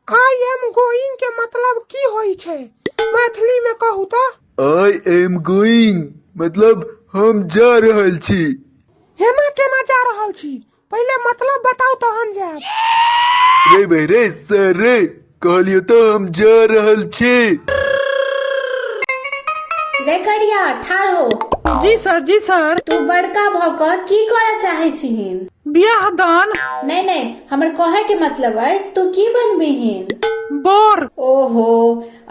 I am going के मतलब की होई छै मैथिली में कहू तो आई एम गोइंग मतलब हम जा रहल छी एना केना जा रहल छी पहिले मतलब बताउ तहन जायब रे भाई रे सर रे कहलियो तो हम जा रहल छी रे करिया ठाढ़ हो जी सर जी सर तू बड़का भऽ कऽ की करऽ चाहै छिहिन बियाह दान नहीं नहीं हमर कहे के मतलब है तू की बनबिहीन बर ओहो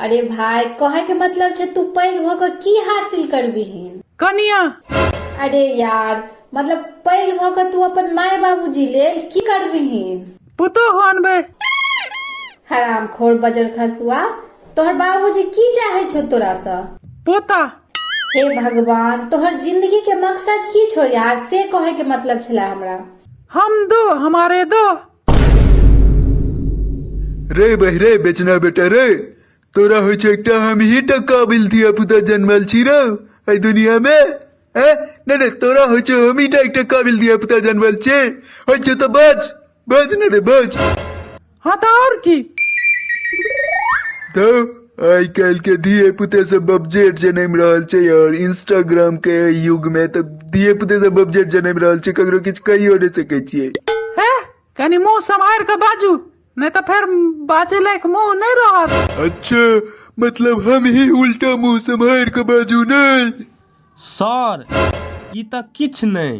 अरे भाई कहे के मतलब छे तू पैघ भऽ कऽ की हासिल करबिहीन कनिया अरे यार मतलब पैघ भऽ कऽ तू अपन माय बाबूजी लेल की करबिहीन पुतोह अनबै हरामखोर बजर खसुआ तोहर बाबूजी की चाहे छो तोरा सँ पोता हे भगवान तोहर जिंदगी के मकसद की छो यार से कहे के मतलब छला हमरा हम दो हमारे दो रे बहि रे बेचना बेटा रे तोरा होइ छै एकटा हम ही टा काबिल धिया पुता जन्मल छी रे एहि दुनिया में ए नहि नहि तोरा होइ छै हम ही टा एकटा काबिल धिया पुता जन्मल छी होइ छै तऽ बच বোঝ না রে বোঝ হ্যাঁ তা আর কি तो आइ काल्हि के धिये पुते सब बबजेट जनैम रहल छै और इंस्टाग्राम के युग में तऽ धिये पुते सब बबजेट जनैम रहल छै ककरो किछु कहियो नहि सकै छियै हे कनी मुंह सम्हार के बाजू नहि तऽ फेर बाजे लायक मुंह नहि रहत अच्छा मतलब हम ही उल्टा मुंह सम्हारि कऽ बाजू नहि सर ई तऽ किछु नहि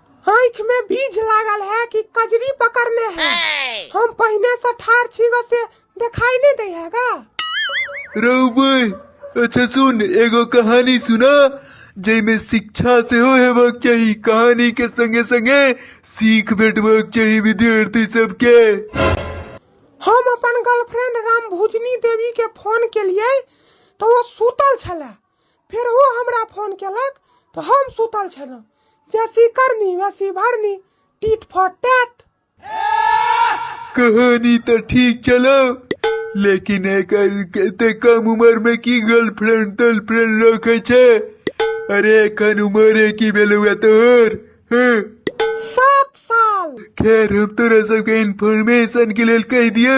आँखि मे बीझ लागल है कि कजरी पकड़ने है? हम पहिने से ठाढ़ छी ग से देखाई नै दै है ग? रौ बहि, अच्छा सुन एगो कहानी सुना जइ मे शिक्षा सेहो हेबाक चाही। कहानी के संगे-संगे सीख भेटबाक चाही विद्यार्थी सब के। हम अपन गर्लफ्रेंड रामभुजनी देवी के फोन केलियै त ओ सुतल छेलै। फेर ओ हमरा फोन केलक तऽ हम सुतल छलहुँ जैसी करनी वैसी भरनी टीट फॉर टैट कहानी तो ठीक चलो लेकिन एक एते कम उम्र में की गर्लफ्रेंड गर्लफ्रेंड रखे छे अरे एखन उम्र की भेलुआ तोहर हँ सात साल खैर हम तोरा सबके इन्फॉर्मेशन के लेल कहि दियौ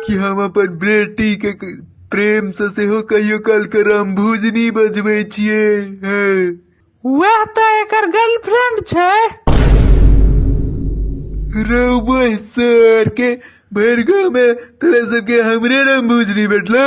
कि हम अपन बेटी के क- प्रेम से सेहो कहियो काल के रामभुजनी बजबै छियै हँ वैह तऽ एकर गर्लफ्रेंड छै रौबै सर के भरि गाँव में तोरा सबके हमरे रामभुजनी बैठलो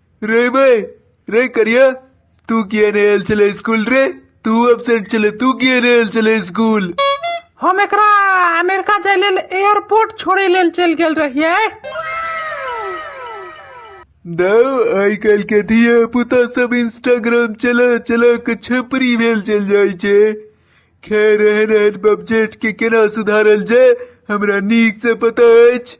रे बे रे करिया तू किया नहीं आयल चले स्कूल रे तू एबसेंट चले तू किया नहीं आयल चले स्कूल हम एकरा अमेरिका जाय लेल एयरपोर्ट छोड़े लेल चल गेल रहिए दाओ आइ काल्हि के धिया पुता सब इंस्टाग्राम चला चला के छपरी भेल चल जाइ छै खैर एहन एहन बबजेट के केना सुधारल जाय हमरा नीक से पता अछि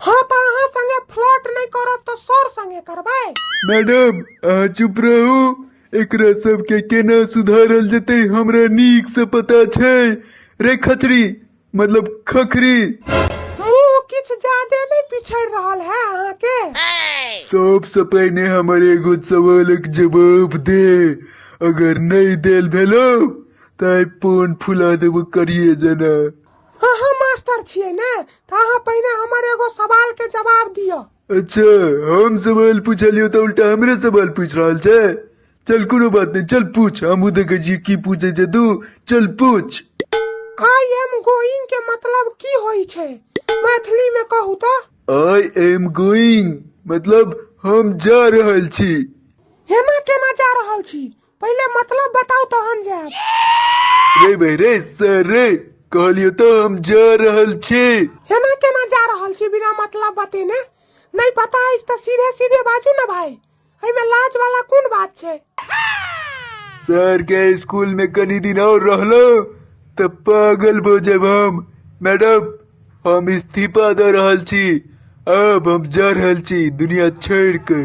हाँ तो अहाँ संगे फ्लर्ट नहीं करब तो सर संगे करबै मैडम अहाँ चुप रहू एकरा सबके केना सुधारल जेतै हमरा नीक से पता छै रे खचरी मतलब खखरी मुंह किछ ज्यादे नहीं पिछड़ रहल है अहाँ के सब से पहिने हमर एगो सवालक जवाब दे अगर नहीं देल भेलो ताइ पोन फुला देबो करिए जना अहाँ मास्टर छियै ने तऽ अहाँ पहिने हमर एगो सवाल के जवाब दिअ अच्छा हम सवाल पूछलियो तो उल्टा हमरे सवाल पूछ रहल छे चल कोनो बात नहीं चल पूछ हम देखे जी की पूछे छे तू चल पूछ आई एम गोइंग के मतलब की होई छै मैथिली में कहू तो आई एम गोइंग मतलब हम जा रहल छी एना केना जा रहल छी पहिले मतलब बताओ तो हम जाब रे भाई रे सर रे कहलियो तो हम जा रहल छी एना केना जा रहल छी बिना मतलब बतेने नहीं पता अछि तऽ सीधे सीधे बाजू ना भाई एहिमे लाज वाला कोन बात छै सर के स्कूल में कनी दिन और रहलो तो पागल भो जब हम मैडम हम इस्तीफा दे रहल छी अब हम जा रहल छी दुनिया छोड़ के